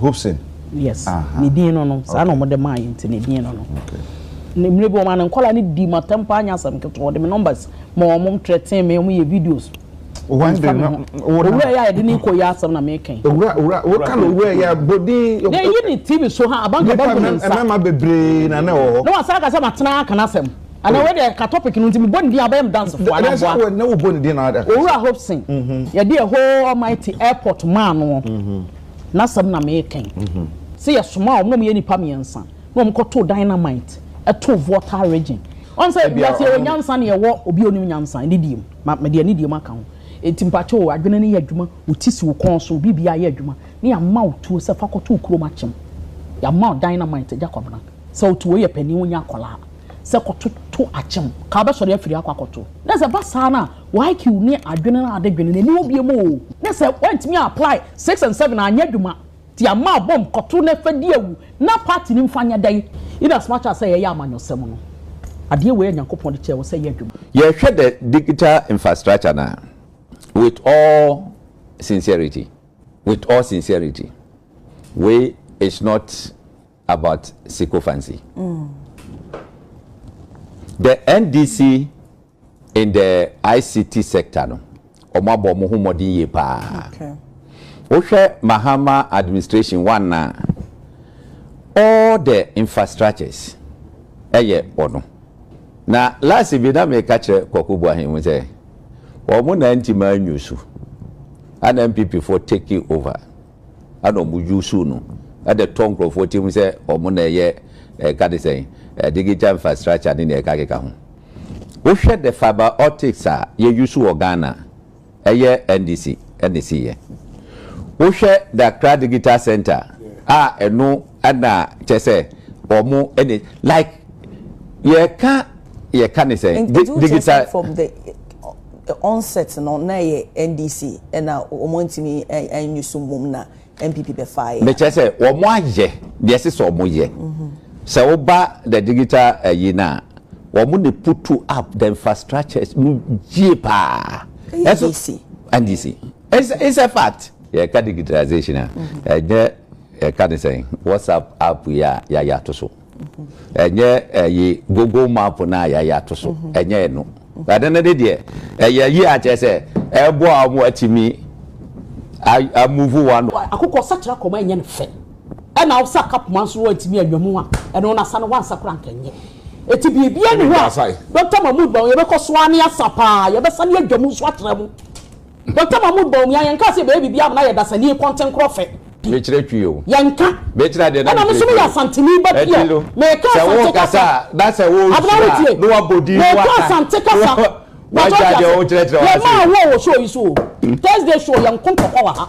Hobson? Yes. Aha. Ne din no no, saa na Okay. wɔde maa yɛn nti ne din no no. Okay. Ne mmerɛ bi wɔn maa no nkwadaa no dii m'atɛm paa nyɛ asɛm ketewa wɔde me numbers ma wɔn wɔn threaten me wɔn yɛ videos. Wɔn Nti de fa me no, ho. wo na- Owura yi a yɛde ne kɔ yi asɛm na meka yi. Owura owura woka no owura yɛ bodin. Na eyi ne TV so ha abanka Nipa bɛgu ne mɛ- nsa. mmarima bebree na na ɛwɔ hɔ. Na wɔn asan aka sɛ matena aka n'asɛm. Ana wei deɛ ka topic no nti mebɔ ne din a wobɛyɛ me dansefoɔ ana boa. Daabi na wobɔ ne din na ada. Owura Hobson yɛde a whole almighty airport maa no n'asɛm na meekan. Sɛ yɛsomaa wɔn na wɔyɛ nnipa mmiɛnsa na wɔn kɔ too dynamite too Volta region. Wɔn sɛ wiase yɛwɔ nyansa na yɛwɔ obi a onim nyansa anidie mu. Ma mede anidie mu aka ho. Enti mpakyɛ o adwene no yɛ adwuma wo ti si wo kɔn so biribi ayɛ adwuma na yɛama wo tuo sɛ fa kɔto wo kurom akyem. Yɛama wo dynamite agya Kwabena sɛ woto wei yɛ panin wonya akwadaa. sɛ kɔtoto akyem ka wobɛsɔre afiri akɔ akɔto na sɛ ɛba saa no a wo IQ ne adwene no ade dwene no ɛni hɔ biom oo na sɛ woantumi apply six and seven anyɛ adwuma nti ama abom kɔto na fa di awu na party no mfa nyɛ dɛn in as much as sɛ yɛyɛ amanyɔsɛm no adeɛ wei a Nyankopɔn de kyɛɛ wo sɛ yɛ adwuma. Yɛhwɛ the digital infrastructure no a with all sincerity with all sincerity wei is not about sycophancy. The NDC in the ICT sector no, wɔn abɔ wɔn ho mmɔden yie paa. Wohwɛ Mahama administration one na all the infrastructures ɛyɛ wɔn. Na last bi na meka kyerɛ Kwaku Boahen mu sɛ wɔn na nti ma anyu so, ɛna NPP fo take over. Ɛna wɔn dwuw suu no de tɔɔ nkurɔfoɔ tirim sɛ wɔn na ɛyɛ ɛka te sɛn digital infrastructure ne nea ɛka keka ho. Wohwɛ the fibre optics a yɛ use wɔ Ghana a, ɛyɛ NDC na ɛsiiɛ. Wohwɛ the Accra digital centre a ɛno. Ɛna kyɛ sɛ wɔn ɛna like yɛka yɛka ne sɛ digital. From the the onset no na yɛ NDC ɛna wɔn ntumi ɛnyi so mum na NPP bɛ fa yɛ. Mekyɛ sɛ wɔn ayɛ deɛ ɛsɛ sɛ wɔn yɛ sɛ wɔba the digital ɛyi na wɔn na putu up the infrastructures no yie paa. NDC. NDC. It's a, it's a fact. Yɛka digitalization a ɛnyɛ. Yɛka ne sɛn? WhatsApp app yi a yɛayɛ ato so. Ɛnyɛ ɛyi Google map no a yɛayɛ ato so. Ɛnyɛ ɛno. Ɛno no de deɛ ɛyɛ yie a kyerɛ sɛ ɛboa wɔn ma wɔatumi amuvu wɔn ano. Akokɔ ɔsakyera kɔm a ɛnyɛ no fɛ ɛna ɔsa aka poma nso wantumi anwa mu a ɛno no asa no wansa koraa anka ɛnyɛ ɛti biribiara nni hɔ a Doctor Mahmood ma wo yɛbɛkɔ so ara ne asa paa yɛbɛsane adwa mu nso akyerɛ mo. Mpɔtam a mo baw mu yi a yɛn nka sɛ baabi biara a mo na yɛ dasani yi kɔnten korɔ fɛ. Me kyerɛ twi o. Yɛn nka. Me kyerɛ adeɛ na me kyerɛ twi o. Ɛna me so me yɛ asanteni ba bi a me ka asante kasa. Abena wo tie. Me ka asante kasa. Wagya deɛ wo kyerɛ kyerɛ wase. Yɛ ma awo wɔ show yi so o. Thursday show yɛn ko ntɔkwa wɔ ha.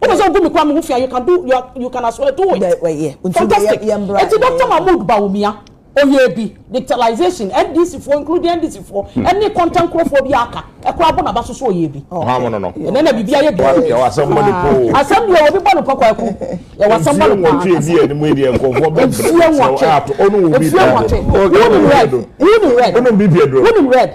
Wopɛ sɛ wogu me koraa me ho fi a you can do you can as well do it. Fantastic. Eti Doctor Mahmood Bawumia, Oyebi, Dictalization, NDC foɔ including NDC foɔ ɛne mm. kɔntɛn nkorɔfoɔ bi aka ɛkora abɔ n'aba soso Oyebi. Ɛnɛ na bibi ayɛ bi. Yɛwɔ asɛm bɔ ne po. Asɛm bi a wɔbi bɔ ne po kwaku. Yɛwɔ asɛm bɔ ne po. Nsuo nwɔtwe bi a ɛnimu yɛ nkɔfoɔ bɛ bɛrɛ sɛ ɔno wɔ bi pɛ do. Nsuo nwɔtwe. Wuni red. Wuni red. Wuni red.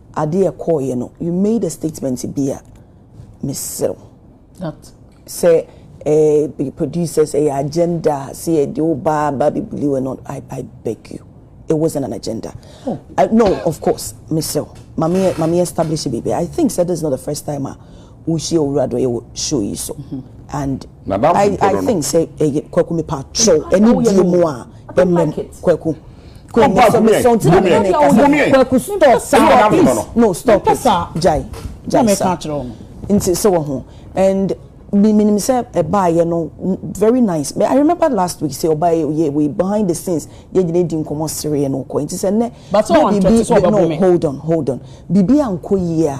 ade a ɛkɔeɛ no, you made a statement bi a, mesrɛ wo. Not sɛ ɛɛ producers, ɛyɛ agenda a, sɛ yɛde wo ba aba abɛbuli wo and all, I, I beg you. It wasn't an agenda. Oh. Uh, no, of course, mesrɛ wo. Mame, mame establish biribi. I think sɛ this is not the first time a wohyia owura do yɛ wɔ show yi so and I think sɛ ɛyɛ Kwaku me pa kyɛw ɛne die mu a ɛmɛm Kwaku. Come back, come here, come here, come here. Kwaku stop saa please no stop it jai jai sa nti sɛ wɔ ho and mi mi nim sɛ ɛbaa yɛ no very nice but I remember last week sɛ ɔbaa yɛ yɛ wei behind the scenes yɛ gyina edi nkɔmɔ sere yɛ no kɔ nti sɛ nnɛ bɛ bibi no hold on hold on bibi ankɔ yie a.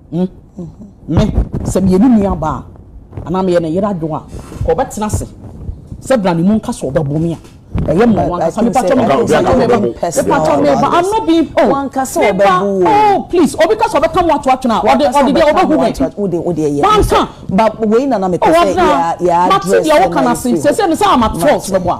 Me, sɛ meyɛ ne nuabaa a, anaa meyɛ ne yere adwoa a, nka ɔbɛtena ase sɛ bra ne mu nka sɛ ɔbɛbo me a, ɛyɛ mma wo ankasa. Me pa kyɛw, me ba, me pa kyɛw, me pa kyɛw, me ba, I'm not being, oh, me ba, oh, please, obi ka sɛ ɔbɛka mo ato atwene a, ɔde, ɔde deɛ ɔbɛhu me. Wanka, oh, Abena, mate deɛ woka no ase, sɛsɛ me sɛ I'm at fault, meboa.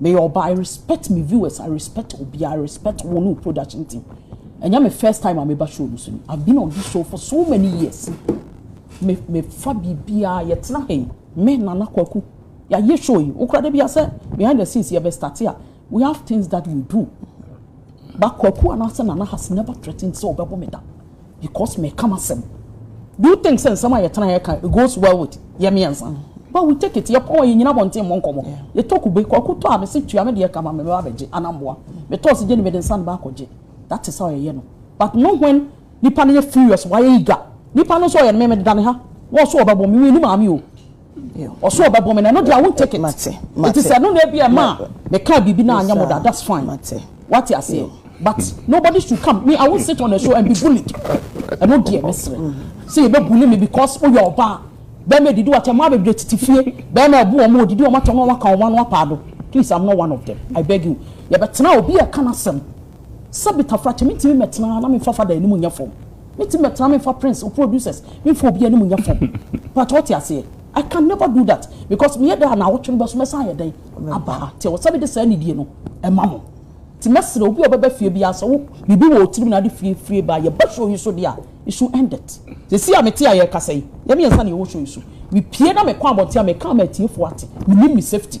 Meyɛ ɔbaa I respect me viewers I respect obiara I respect wo ne wo production team Ɛnyɛ me first time a meba show no so ni I've been on this show for so many years Me me fa biribiara yɛtena ha yi me Nana Kwaku yɛayɛ show yi wokora da bia sɛ behind the scenes yɛbɛ start a we have things that we do But Kwaku anaasɛ Nana has never threatened sɛ ɔbɛbɔ me da Because meka m'asɛm. Do you think sɛ nsɛm a yɛtena ha yɛka it goes well with yɛ mmiɛnsa? But we take it, yɛpɔn a yɛnnyina abɔnten mmɔ nkɔmmɔ. Yɛtɔ kube, Kwaku tɔ a mese tua me deɛ ka ma me mɛba abɛgye anaa mmoa. Metɔ ɔse gye ne mede nsa no ba akɔgye. That is how yɛyɛ no. But no when nipa no yɛ furious, wayɛ eager. Nipa no nso ɔyɛ no me mededa ne ha, wɔn nso wɔbɛbɔ me, menni maame o. Ɔso ɔbɛbɔ me na ɛno deɛ I won't take it. Mate, mate. Nti sɛ ɛno na ebi ɛma a mekaa biribi na anyɛ mo da, that's fine. Mate. Wate aseɛ? But nobody should come, me I won't sit on a show and be bullied. Ɛno deɛ mesrɛ sɛ yɛbɛ bully me because woyɛ ɔbaa. Bɛɛma ɛdidi wɔ akyɛ, mmaa bebree tete fie, bɛɛma ɛbo wɔn, wɔdidi wɔn akyɛ na wɔaka wɔn ano apaado. Please I'm not one of them, I beg you. Yɛbɛtena a obi ɛka n'asɛm. Sɛbi Tafra kyɛ mentumi mɛtena ha na memfa fa da anim nyɛ fam. Me team bɛtra me nfa prince wo producers me nfa obi anim nyɛ fam but ɔte aseɛ I can never do that because meyɛ dɛ a na awɔtwe no bɛso mɛsan ayɛ dɛn abaa te wɔ sɛ mede saa nidie no ɛma mo te mɛsrɛ obi a ɔbɛba fie bi asɛ wo biribi wɔ otirim na ade fie fie ba yɛba show yi so deɛ a it should end it sɛsi a mete a yɛkasa yi yɛ mmiɛnsa na yɛwɔ show yi so mepie na mekɔ abɔnten a meka ama atiefoɔ ate menim me safety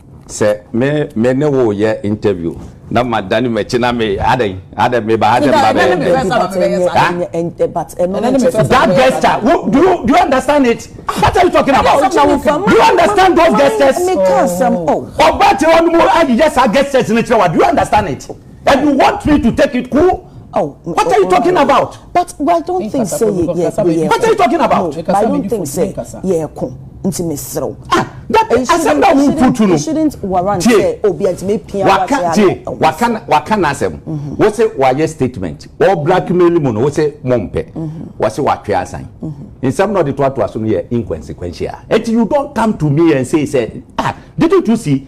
Sɛ me me ne wo yɛ interview na ma dane makyi na me adɛn adɛn me ba ha sɛ me ba bɛyɛ dɛn that gesture wo do you do you understand it what are you talking about do you understand those gestures ɔba kyerɛ wɔn mu ayeyɛ saa gestures ne kyerɛ wa do you understand it. And you want me to take it cool? Oh, what oh, are you oh, talking oh, about? But I don't think say ye ye ye. What are you talking about? No, but I don't think say ye ko. Nti me serew. Ah, that asem na wo putu no. Shouldn't warrant say obi anti me pia wa ka tie. Wa kan wa kan asem. Mm-hmm. Wo se wa ye statement. Wo blackmail mu no wo se mompe. Mm-hmm. Wo se wa twe asan. Mm-hmm. Nsem na de to ato aso no ye inconsequential. And you don't come to me and say say ah, didn't you see